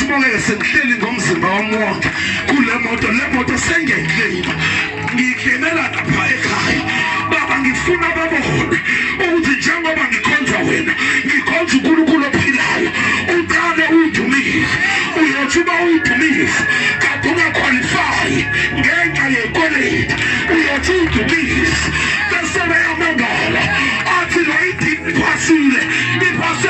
sibongeke sengihleli ngomzimba wami wonke kule moto le moto sengengileyiba ngingenela lapha ekhaya baba ngifuna babone ukuthi njengoba ngikhonza wena ngikhonza unkulunkulu ophilayo uqale uwudumile uyothi uba uwudumile kade ungakhwalifayi ngenxa yekweleti uyothi uwudumile bese beyamangala athi lo idini iphasile iphase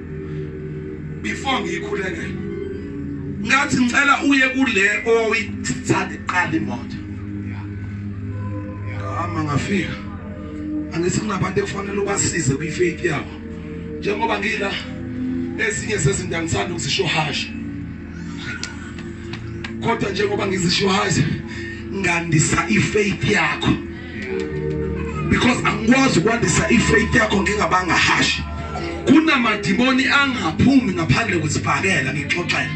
before ngiyikhuleke ngathi ngicela uye kule owuyithathe qala imoto ngahamba ngafika angithi kunabantu ekufanele ubasize kwifaith yabo njengoba ngila ezinye sezinto angithanda ukuzisho hasha kodwa njengoba ngizisho hasha ngandisa ifaith yakho because angikwazi ukwandisa ifaith yakho ngingabanga hashi kunamadimoni angaphumi ngaphandle kwesibhakela ngixoxela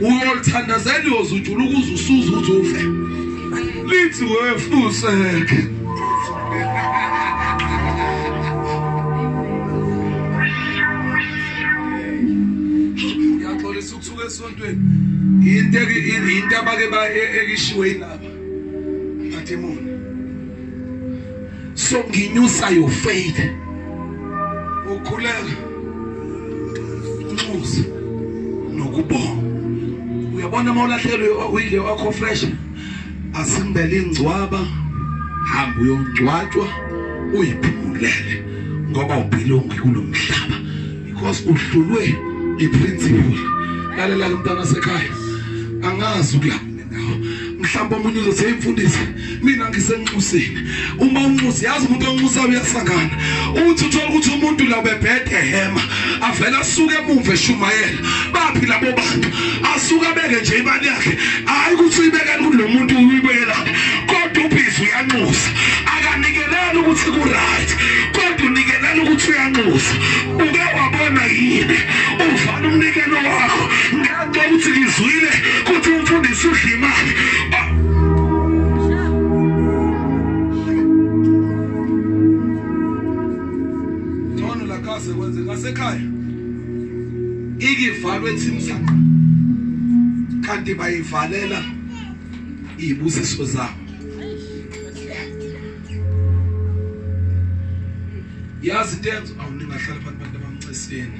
uyolithandazela uyozujula ukuze usuze ukuthi ufe lithi wefuseke ngiyaxolisa ukuthuka esontweni yinto abake ekishiwe yinabo Mademoni. So nginyusa your faith. Ukhuleka. Unxusa nokubonga. Uyabona uma ulahlekelwe uyile wakho fresh. Asimbele ingcwaba. Hamba uyongcwatshwa uyiphumulele ngoba ubhilongi kulomhlaba because uhlulwe iprinciple lalela mntana sekhaya angazi ukuyaphi mhlawumbe omunye uzothi hey mfundisi mina ngisenxusini uma unxusi yazi umuntu onxusa uyasangana uthi uthola ukuthi umuntu la bebhede hema avela asuke emuva eshumayela baphi labo bantu asuka beke nje imali yakhe hayi ukuthi uyibekela kulo muntu uyibekela kodwa ubhizi uyanxusa akanikeleli ukuthi ku right kodwa unikelela ukuthi uyanxusa uke wabona yini uvana umnikelo wakho Ukuthi ngizwile kuthi umfundisi udla imali. Ngcono la khase kwenze ngasekhaya. Ikivalwe thimsana. Kanti bayivalela izibusiso zabo. Yazi into yenza awuningahlala phansi abantu abamnceseni.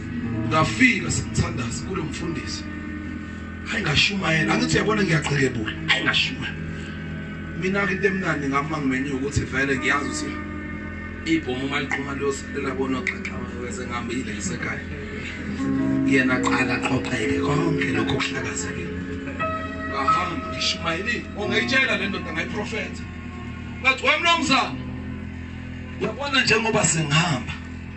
ngafika sithandaza kulo mfundisi hayi ngashumayela angithi yabona ngiyaqhekebula hayi ngashumayela mina ke into emnandi ngama ngimenye ukuthi vele ngiyazi ukuthi ibhomu uma liqhuma liyosalela bona xaxa weze ngihambile ngisekhaya yena qala qoqeke konke lokho kuhlakazekile ngahamba ngishumayeli ongayitshela le ndoda ngayiprofetha ngathi wemnumzane uyabona njengoba singihamba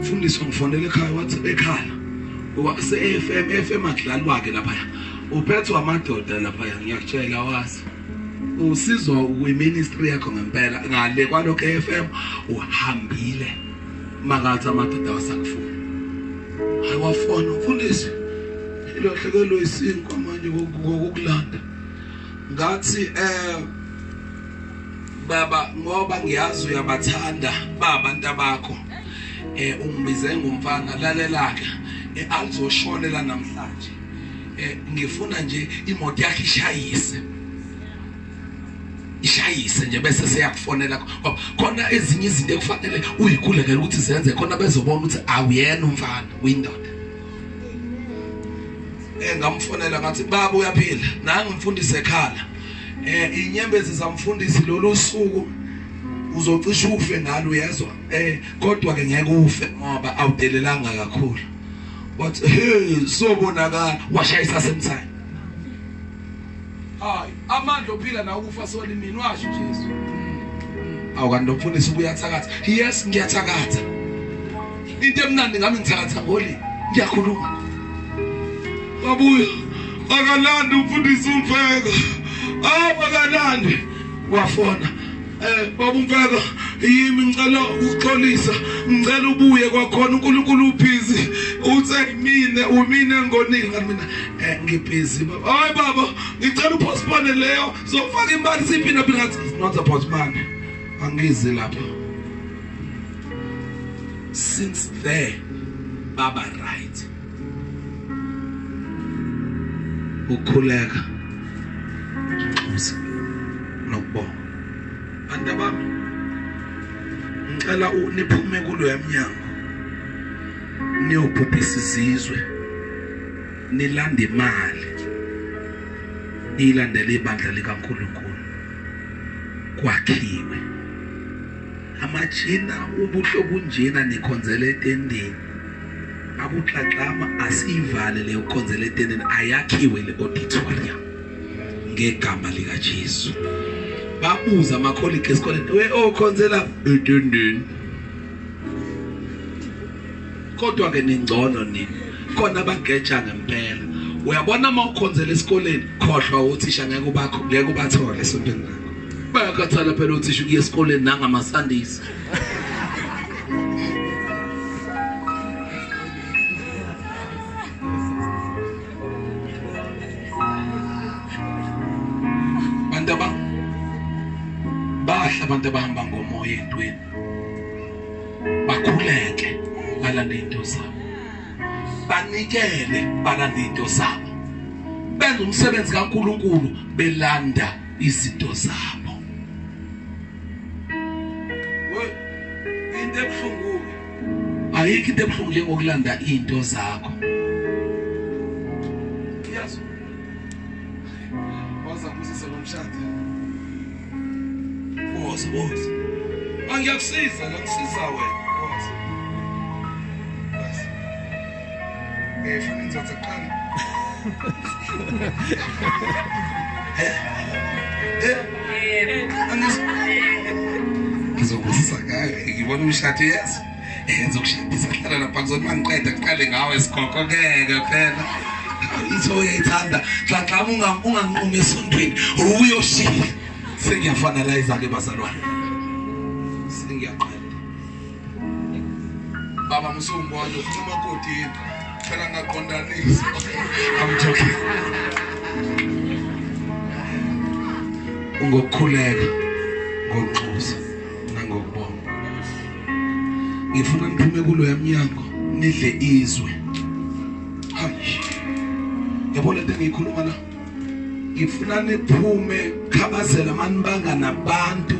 Mfundisi wangifonela ekhaya wathi bekhala. Wakuse FM FM adlali wakhe lapha. Uphethwa amadoda lapha ngiyakutshela wazi. Usizwa kwiministry yakho ngempela ngale kwalokho FM uhambile. Makathi amadoda wasakufuna. Ayiwafona mfundisi. Ilahlekelwe isinkwa manje kokulanda. Ngathi eh baba ngoba ngiyazi uyabathanda baba ntabakho eh ungibize ngumfana lalelaka eh, alizoshonela namhlanje eh ngifuna nje imoto yakhe ishayise ishayise nje bese seyakufonela ngoba khona ezinye izinto ekufanele uyikhulekele ukuthi zenze khona bezobona ukuthi awuyena umfana uyindoda eh ngamfonela ngathi baba uyaphila nangu mfundisi ekhala eh inyembezi zamfundisi lolu suku uzocisha ufe ngalo uyezwa eh kodwa ke ngeke ufe ngoba awudelelanga kakhulu but hey sobonakala washayisa semthani hayi amandla ophila na ukufa soli mina washo Jesu awukanti nomfundisi ubuyathakatha yes ngiyathakatha into emnandi ngami ngithakatha ngoli ngiyakhuluma babuya akalandi umfundisi umfeka abakalandi wafona Eh baba umfeka yimi ngicela ukuxolisa ngicela ubuye kwakhona uNkulunkulu ubhizi uthe mina umine ngonile ngathi mina eh ngibhizi baba hayi baba ngicela upostpone leyo zofaka imali siphina phina ngathi it's not about money angizi lapha since there baba right ukukhuleka nxusa nokubonga bantu bami ngicela niphume kulo yamnyango niyobhubhisa izizwe nilanda imali niyilandele ibandla likaNkuluNkulu kwakhiwe amajina ubuhle obunjena nikhonzele etendeni akuxaxama asiyivale leyo khonzela etendeni ayakhiwe le auditorium ngegama lika Jesu babuza ama colleague esikoleni we okhonzela oh, etendeni kodwa ke ningcono nini khona bageja ngempela uyabona uma ukhonzela esikoleni khohlwa uthisha ngeke ubakho ngeke ubathole esontweni lakho bayakhathala phela uthisha ukuya esikoleni nangama Sundays bahle abantu abahamba ngomoya entweni bakhuleke balande into zabo banikele balande into zabo benza umsebenzi kaNkuluNkulu belanda izinto zabo into ebuhlungu ayikho into ebuhlungu njengokulanda into zakho yazi waza kusisa lomshado boss boss angiyakusiza ngakusiza wena ngizokuzisa ngayo ngibona umshado yes ngizokushadisa hlala lapha kuzothi uma ngiqeda kuqale ngawe sikhokho ngeke phela itho uyayithanda xaxama unganqumi esontweni uyoshiya sengiyafanalayiza-ke bazalwane sengiyaqala baba musungibona ufuna umakoti yini phela ngaqondanisa amjoking ngokukhuleka ngokunxusa nangokubonga ngifuna niphume kulo yamnyango nidle izwe hayi yabona into engiyikhuluma la ngifuna niphume khabazela manibanga nabantu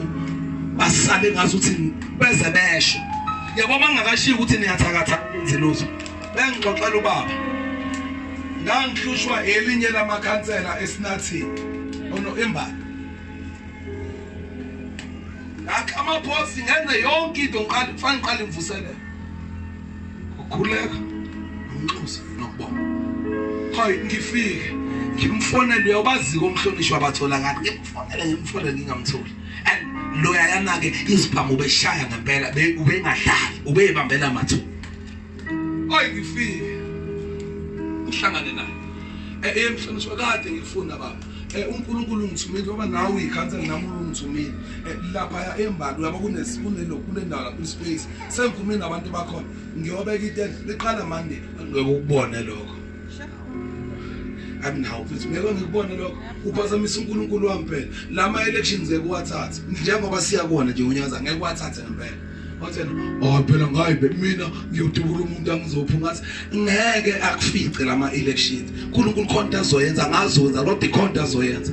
basale ngathi uthi beze besho yabo bangakashiyi ukuthi niyathakatha nziluzo bengixoxela ubaba ngangihlushwa elinye lamakhansela esinathini ono embala ngakha amaphosi ngenze yonke into ngiqale kufanele ngiqale ngivuselele ukhuleka umnxusa nokubonga hayi ngifike ngimfonele uyabazi komhlonishwa bathola ngani ngimfonele ngimfonele ngingamtholi and loya yana ke izibhamu ubeshaya ngempela ubengadlali ubeyibambela mathu hayi ngifike uhlangane naye eh, eh mhlonishwa kade ngifuna baba eh, uNkulunkulu ungithumile ngoba nawe ikhansela nami ungithumile eh, lapha embalwa yabo kunesikune lokule ndawo lapho space sengikhumile nabantu bakhona ngiyobeka itende liqala mande ngekubone lokho anginawo futhi ngeke ngikubone lokho uphazamisa uNkulunkulu wami phela lama elections ekuwathatha njengoba siyakona nje unyaka ngeke wathathe ngempela wathena oh phela ngayibe mina ngiyodubula umuntu angizophi ngathi ngeke akufice lama elections uNkulunkulu khona azoyenza ngazonza lodwa ikhona azoyenza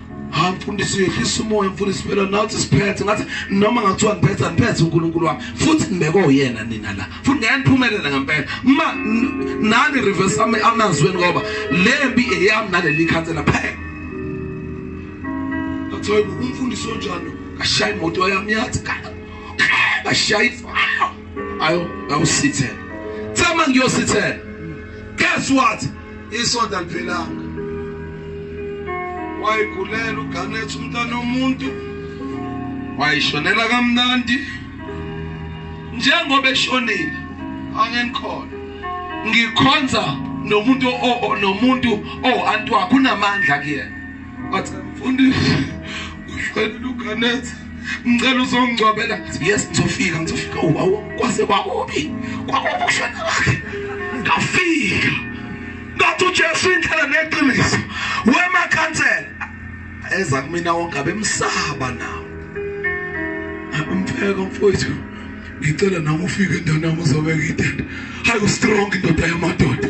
hayi mfundisi uyehlisa umoya mfundisi phela nathi siphethe ngathi noma ngathiwa ngiphethe ngiphethe uNkulunkulu wami futhi ngibekwe uyena nina la futhi ngeke niphumelele ngempela uma nani reverse ami amazweni ngoba lembi eyami naleli khansela phela ngathi umfundisi onjalo ashaya imoto yami yathi ashaya ifaya ayo awusithela thema ngiyosithela guess what isonto aliphelanga wayigulela uganet umntana omuntu wayishonela kamnandi njengoba eshonile angenikhona ngikhonza nomuntu nomuntu owantu wakho unamandla kuyena but mfundisi uhlelile uganet ngicela uzongcwabela yes ngizofika ngizofika oh, awu kwase kwakubi kwakubi ukushona kwakhe ngafika ngathi uJesu indlela neqiniso wema khansela eza kumina wonke abemsaba nawo umpheko mfowethu ngicela nami ufike ntanami uzobeka itende hayi ustrong indoda yamadoda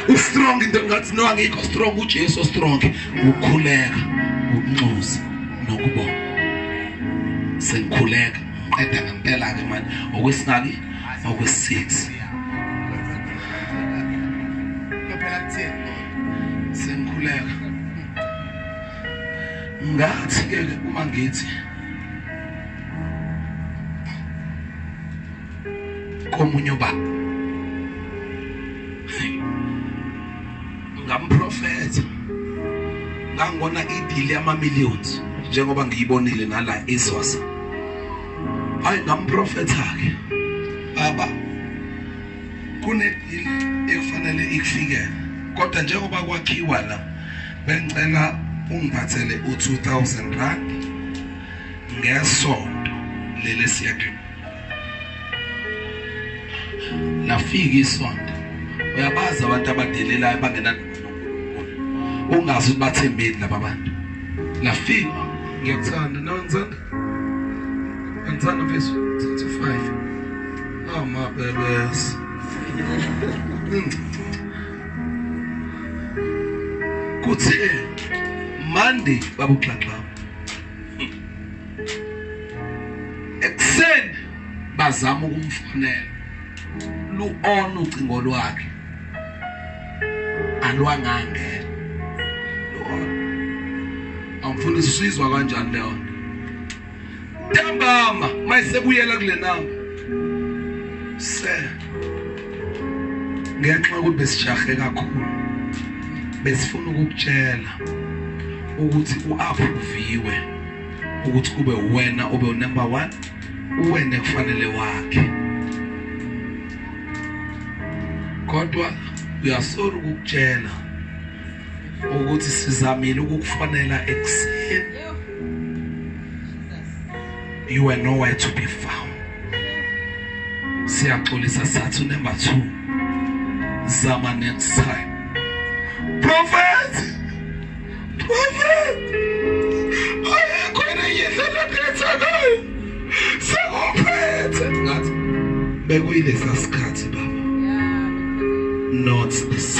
ustrong into ngathi no angikho strong ujesu strong ukukhuleka ukunxusa nokubonga sengikhuleka qeda ngempela-ke manje okwesingaki okwesix sengikhuleka ngathi-ke uma ngithi komunye ubaba ngamprofetha ngangibona idili yama-millions njengoba ngiyibonile nala izwasa hayi ngamprofetha-ke baba kunedili ekufanele ikufikele kodwa njengoba kwakhiwa la bengicela ungiphathele u-2000 rand ngesonto lele siyake lafika isonto uyabazi abantu abadelelayo bangena ungazi ukuthi bathembeni laba bantu lafika ngiyakuthanda no ngithanda ngithanda mfethu 35 oh my babies kuthe Monday babuxaxa ekuseni bazama ukumfonela lu-on ucingo lwakhe alwangangena lu-on angifundisa usizwa kanjani leyo ntambama mayisebuyela kule namba se ngenxa yokuthi besijahe kakhulu besifuna ukukutshela ukuthi u-aphuviwe ukuthi kube wena obe unumber one uwena kufanele wakhe kodwa uyasora ukukutshela ukuthi sizamile ukukufonela ekuseni you were nowhere to be found siyaxolisa sathi number 2 zama next time prophet prophet ayikho neyindlela ngethakayo sekuphethe ngathi bekuyilesa sikhathi baba not this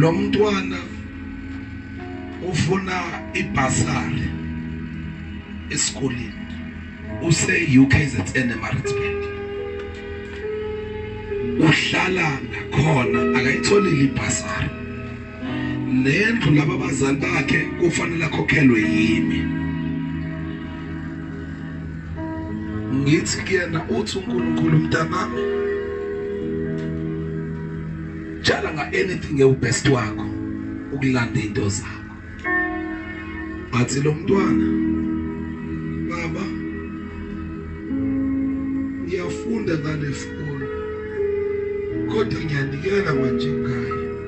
lo mntwana ufuna ibhasari esikoleni use UKZN eMaritzburg uhlala nakhona akayitholile ibhasari nendlu laba bazali bakhe kufanele akhokhelwe yimi ngithi kuyena uthi uNkulunkulu mntanami jala nga anything ewubest wakho ukulanda into zakho athi lo mntwana baba ngiyafunda ngale foni kodwa ngiyanikela manje ngayo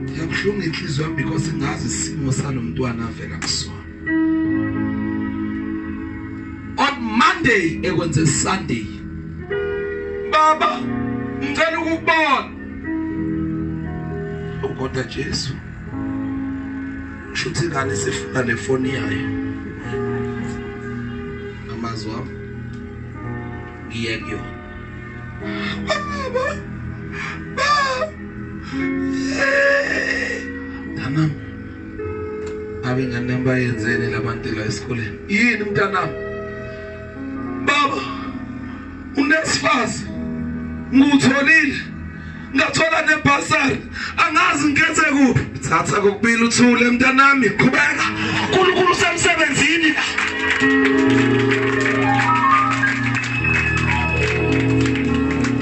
Ngiyabuhlungu inhliziyo yami because ngazi isimo salomntwana avela kusona. On Monday ekwenze Sunday. Baba, ngicela ukubona. Ukonda Jesu. Shuthi ngane sifuna le foni yayo. Amazwi wami. Ngiye kuyona. Mntanami, ngabe ingane yami bayenzeni labantu la esikoleni? Yini mntanami? Baba, unesifazi ngutholile ngathola nebhasari angazi ngikhethe kuphi thatha kokubili uthule mntanami qhubeka unkulunkulu usemsebenzini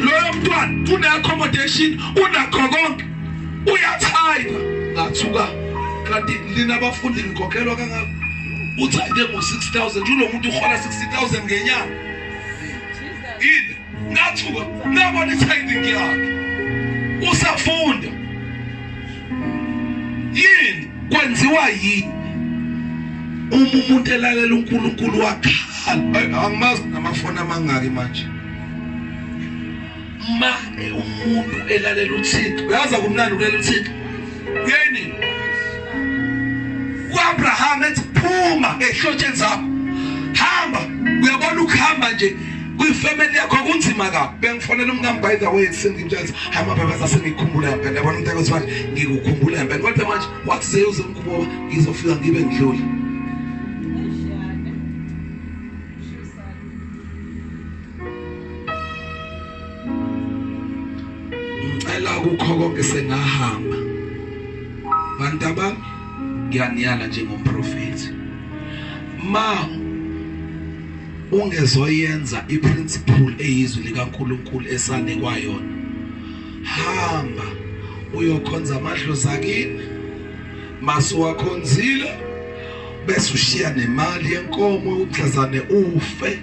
loyo mntwana une-accommodation unakho konke uyathayina ngathuka kanti lina bafundi ngikhokhelwa kangako uthayine ngo-six thousand ulo muntu uhola sixty thousand ngenyanga yini ngathuka ngabona i-tithing yakhe usafunda yini kwenziwa yini uma umuntu elalela uNkulunkulu wakhala angimazi namafoni amangaki manje ma umuntu elalela uThixo uyaza kumnandi ukulalela uThixo yeni uAbraham ethi phuma ehlotsheni zakho hamba uyabona ukuhamba nje kwifamily yakho kunzima kabi bengifonela umkami by the way sengimtshela hama baba sasengikhumbula ngempela yabona umuntu akuthiwa ngikukhumbula ngempela kodwa manje wathi seyuze umkuboba ngizofika ngibe ngidlule ngicela kukho konke sengahamba bantu abami ngiyaniyala njengomprofethi ma ungezoyenza iprinciple eyizwi likaNkuluNkulu esane kwayona hamba uyokhonza amadlozi akini masuwakhonzile bese ushiya nemali yenkomo uxazane ufe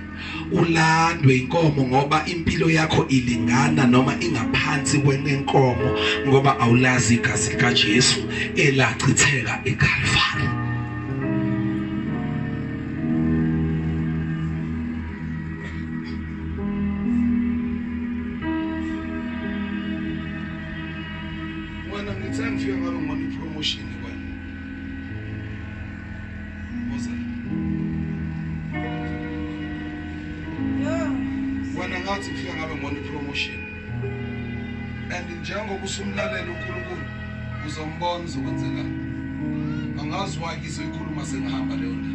ulandwe inkomo ngoba impilo yakho ilingana noma ingaphansi kwenenkomo ngoba awulazi igazi likaJesu elachitheka eKalvari Mwana ngithanda ufika ngabe ngona ipromotion wena ngathi ngifika ngabe ngibona ipromotion and njengoba usumlalela uNkulunkulu uzombona uzokwenzela angazi why ngizoyikhuluma sengihamba leyo ndaba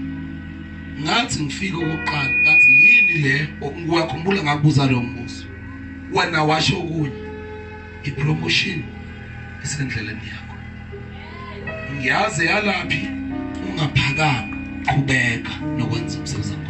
ngathi ngifika ukuqala ngathi yini le wakhumbula ngakubuza lo mbuzo wena washo kunye ipromotion isendleleni yakho ngiyazi yalaphi ungaphakanga qhubeka nokwenza umsebenzi wakho